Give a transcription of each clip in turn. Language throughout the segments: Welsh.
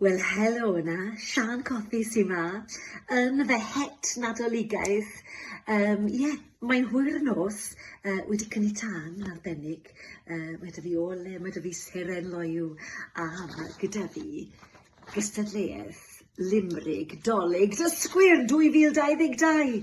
Wel helo yna, Siân Cothi sy 'ma yn fy het Nadoligaidd. Yym ie, mae'n hwyr nos, yy wedi cynni tân yn arbennig, yy mae 'da fi ole, mae 'da fi seren loyw, a ma' gyda fi gystadleuaeth limrig 'Dolig dysgwyr 2022.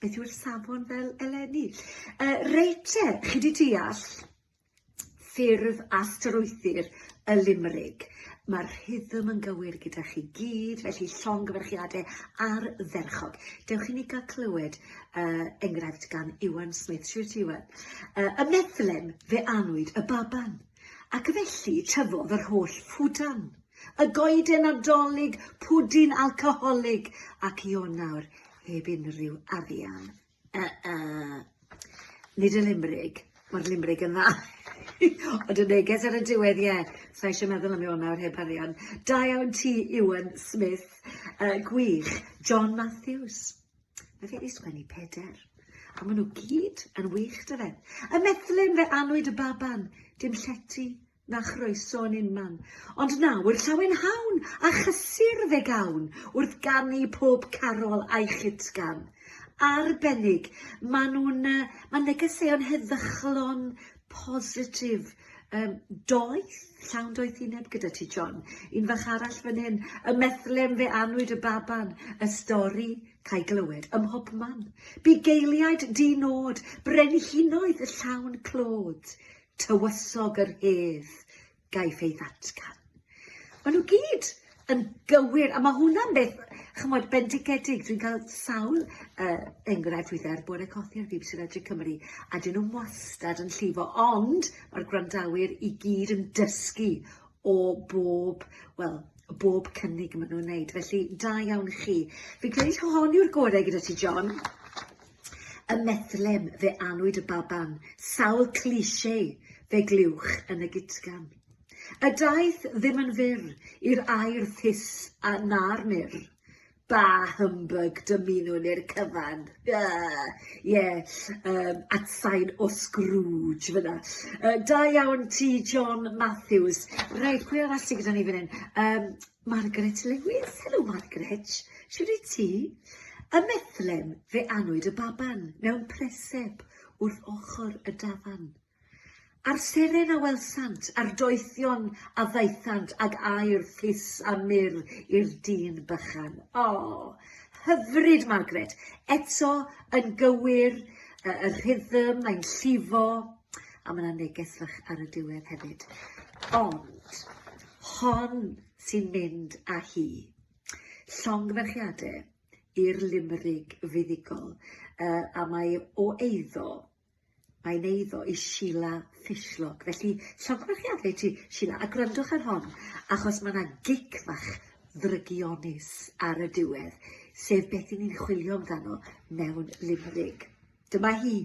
Beth yw'r safon fel eleni? Uh, reit te, chi di deall ffurf a strwythur y limrig. Mae'r rhythm yn gywir gyda chi gyd, felly llongyfarchiadau ar ferchog. Dewch i ni gael clywed uh, enghraifft gan Iwan Smith. Siwr ti, Iwan? Uh, y meddlen fe anwyd y baban, ac felly tyfodd yr holl ffwdan. Y goeden adolyg, pwdin alcoholig, ac Ionawr heb unrhyw arian. Uh, uh. Nid y limrig. Mae'r limrig yn dda. Ond y neges ar y diwedd, ie. Yeah. Sa'i eisiau meddwl am Iwan nawr heb arian. Da iawn ti, Iwan Smith. Uh, gwych. John Matthews. Mae fe wedi sgwennu peder. A maen nhw gyd yn wych, dy fe. Y methlyn fe anwyd y baban. Dim llety na chroeso yn unman. Ond nawr, llawen hawn, a chysur fe gawn, wrth ganu pob carol a'i chitgan. Arbennig, maen nhw'n, uh, mae negeseuon heddychlon, positif, um, doeth, llawn doeth i neb gyda ti, John. Un fach arall fan hyn, y methlem fe anwyd y baban, y stori cael glywed ym mhob man. Bu geiliaid di nod, brenhinoedd y llawn clod, tywysog yr hedd gaiff ei ddatgan. Maen nhw gyd yn gywir, a mae hwnna'n beth, chymod, bendigedig. Dwi'n cael sawl uh, enghraifft weithiau ar bore cothi ar BBC Radio Cymru, a dyn nhw'n wastad yn llifo, ond mae'r gwrandawyr i gyd yn dysgu o bob, wel, bob cynnig maen nhw'n wneud. Felly, da iawn chi. Fi'n credu hon yw'r gorau gyda ti, John. Y meddlem, fe anwyd y baban, sawl cliché, fe glywch yn y gitgan. Y daeth ddim yn fyr i'r air thus a na'r mur. Ba humbug dymunwn i'r cyfan. Ie, yeah, yeah, um, atsain o Scrooge fyna. Uh, da iawn ti, John Matthews. Reit, pwy arall sydd gyda ni fan hyn? Um, Margaret Lewis, Helo Margaret, shwd wyt ti? Ym Methlem fe anwyd y baban mewn preseb wrth ochr y dafarn. A'r seren a welsant, a'r doethion a ddaethant ag aer ffys a mur i'r dyn bychan. O! Hyfryd Margaret, eto yn gywir, y rhythm, mae'n llifo, A mae yna neges fach ar y diwedd hefyd. Ond, hon sy'n mynd â hi. Llongferchiadau i'r limrig fuddugol, uh, a mae o eiddo mae'n eiddo i Sheila Fishlock. Felly, llongyfarchiadau i ti, Sheila, a gwrandwch ar hon, achos mae yna gic fach ddrygionus ar y diwedd, sef beth i ni'n chwilio amdano mewn limrig. Dyma hi.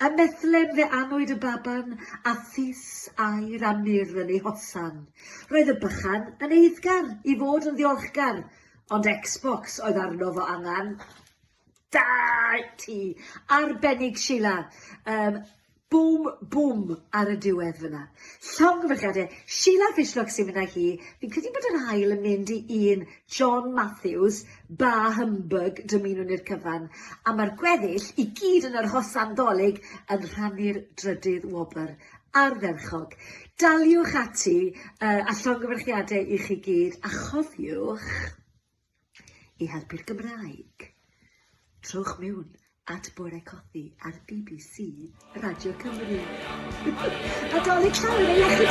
A methlem fe anwyd y baban, a phys aur a mur yn ei hosan. Roedd y bychan yn eiddgar i fod yn ddiolchgar, ond Xbox oedd arno fo angen. Da ti! Arbennig Sheila. Um, bwm, bwm ar y diwedd fyna. Llongyfarchiadau. Sheila Fishlock sy'n mynd â hi. Fi'n credu bod yr hael yn mynd i un John Matthews, Bah humbug, dymunwn i'r cyfan, a mae'r gweddill i gyd yn yr hosan Ddolig yn rhannu'r drydydd wobr. Ardderchog. Daliwch ati uh, a llongyfarchiadau i chi gyd, a chofiwch i helpu'r Gymraeg. Trowch mewn at Bore Cothi ar BBC Radio Cymru. Nadolig llawn yn ei iechyd!